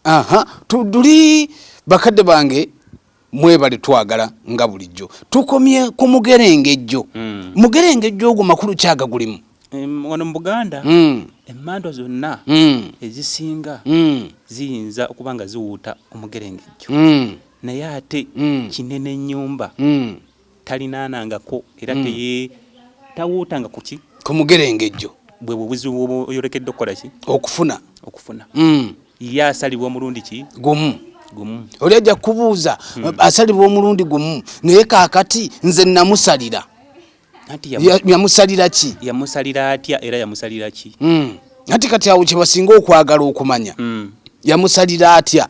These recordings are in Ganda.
aha tuduli bakadde bange mwebale twagala nga bulijjo tukomye ku mugerengejjo mm. mugerengejjo ogwo makulu kyaga gulimu wano mu buganda mm. emmandwa zonna mm. ezisinga mm. ziyinza okuba nga ziwuuta omugerengejjo mm. naye ate mm. kinene nyumba mm. talinaanangako era mm. teyetawuutanga ku ki ku mugerengejjo bwe bubuzibu oyolekedde okukola ki okufuna okufuna mm. ye asalibwa omulundi ki gumu gumu oli ajja kubuuza mm. asalibwa omulundi gumu naye kaakati nze namusalira yamusalira ki yamusalira atya era yamusalira ki mm. nati kati awo kyebasinga okwagala okumanya mm. yamusalira atya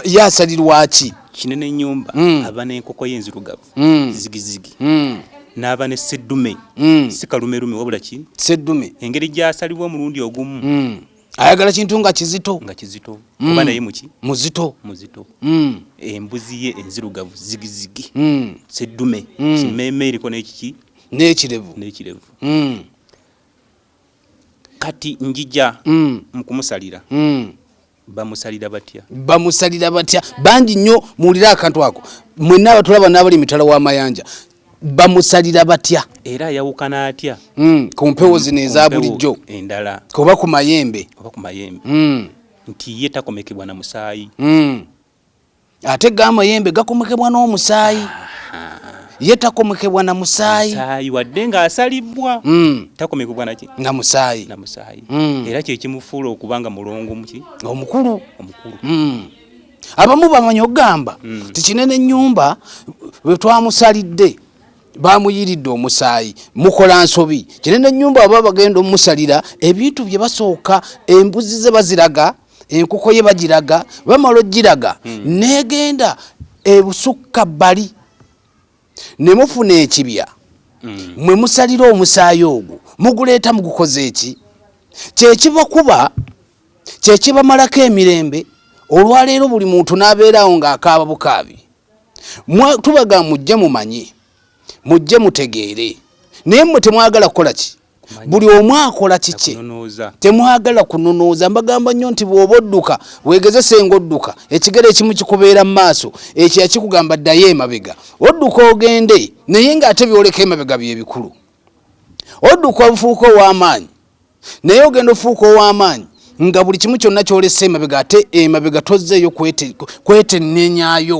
ye asalirwaki kinene nyumba mm. aba nenkoko ye enzirugavu mm. zigizigi mm. n'aba ne seddume mm. si kalumerume wabula ki seddume engeri gy'asalibwa omulundi ogumu mm. ayagala kintu nga kizito nga kizito mm. oba naye muki muzito muzito mm. embuzi ye enzirugavu zigizigi mm. seddume mm. kimeeme eriko n'ekiki n'ekirevu n'ekirevu mm. kati njija mm. mukumusalira mm. bamusalira batya bamusalira batya bangi nnyo muwulire akantu ako mwenna abatulaba n'abali emitala w'amayanja bamusalira batya era ayawukana atya mm, ku mpewo zino eza bulijjo endala oba ku mayembe oba ku mayembe mm. nti ye takomekebwa na musaayi mm. ate ga amayembe gakomekebwa n'omusaayi ye takomekebwa na musaayi musaayi wadde ng'asalibbwa mm. takomekebwa naki na musaayi na musaayi mm. era kyekimufuula okuba nga mulongo muki omukulu omukulu mm. abamu bamanyi okugamba mm. tikinene ennyumba bwe twamusalidde bamuyiridde omusaayi mukola nsobi kinene ennyumba aba bagenda omusalira ebintu bye basooka embuzi ze baziraga enkoko ye bagiraga bamala ogiraga hmm. negenda ebusukka bali nemufuna ekibya hmm. mwe musalira omusaayi ogwo muguleeta mugukoze eki kyekiva kuba kyekibamalako emirembe olwaleero buli muntu nabeerawo ngaakaaba bukaabi tubaga mujje mumanye mujje mutegeere naye mwe temwagala kukola ki buli omu akola kikye temwagala kununooza mbagamba nnyo nti bw'oba odduka weegezese ng'odduka ekigere ekimu kikubeera mu maaso ekyo yakikugamba ddayo emabega odduka ogende naye ng'ate byoleka emabega bye bikulu odduka obufuuka ow'amaanyi naye ogenda ofuuka ow'amaanyi nga buli kimu kyonna kyolesa emabega ate emabega tozzeeyo kwetennenyayo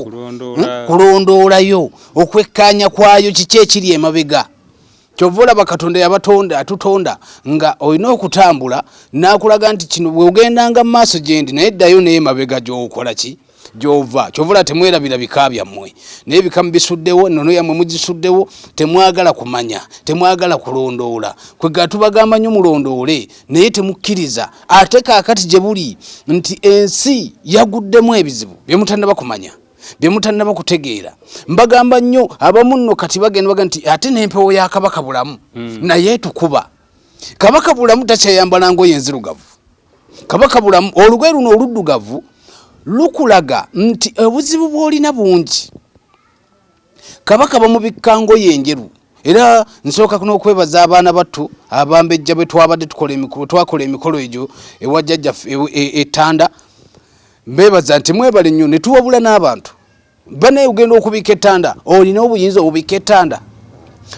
kulondoolayo hmm? okwekkaanya kwayo kiki ekiri emabega kyova olaba katonda yabatonda atutonda nga olina okutambula n'akulaga nti kino bweogendanga mu maaso gyendi naye ddayo naye emabega gyokola ki gyova kyovula temwerabira bika byammwe naye bika mubisuddewo nono yammwe mugisuddewo temwagala kumanya temwagala kulondoola kwega tubagamba nyo mulondoole naye temukkiriza ate kakati gye buli nti ensi yaguddemu ebizibu byemutannaba kumanya byemutannaba kutegeera mbagamba nnyo abamu nno kati bagenda baga nti ate n'empewo ya kabaka bulamu hmm. naye tukuba kabaka bulamu takyayambala ngoye enzirugavu Kabaka Bulamu, olugoye luno oluddugavu lukulaga nti obuzibu bw'olina bungi. Kabaka bamubikka ngoye enjeru era nsooka n'okwebaza abaana battu abambejja bwe twabadde twakola emikolo egyo ewa jjajjaffe ettanda e, e, mbeebaza nti mwebale nnyo ne tuwabula n'abantu banaye ogenda okubika ettanda olina obuyinza obubika ettanda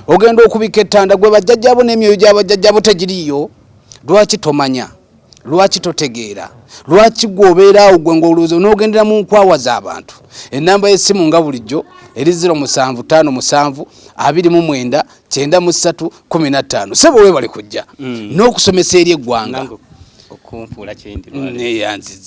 ogenda okubika ettanda gwe bajjajjabo n'emyoyo gya bajjajjabo tegiriiyo lwaki tomanya lwaki totegeera lwaki gwe obeeraawo gwe ngaolowooza onoogendera mu nkwawa z'abantu ennamba y'essimu nga bulijjo eri 0 musanvu tano musanvu abiri mu mwenda kyenda mu ssatu kumi na ttaano sebo weebale kujja mm. n'okusomesa eri eggwanga okunfuula kyendi neyanziza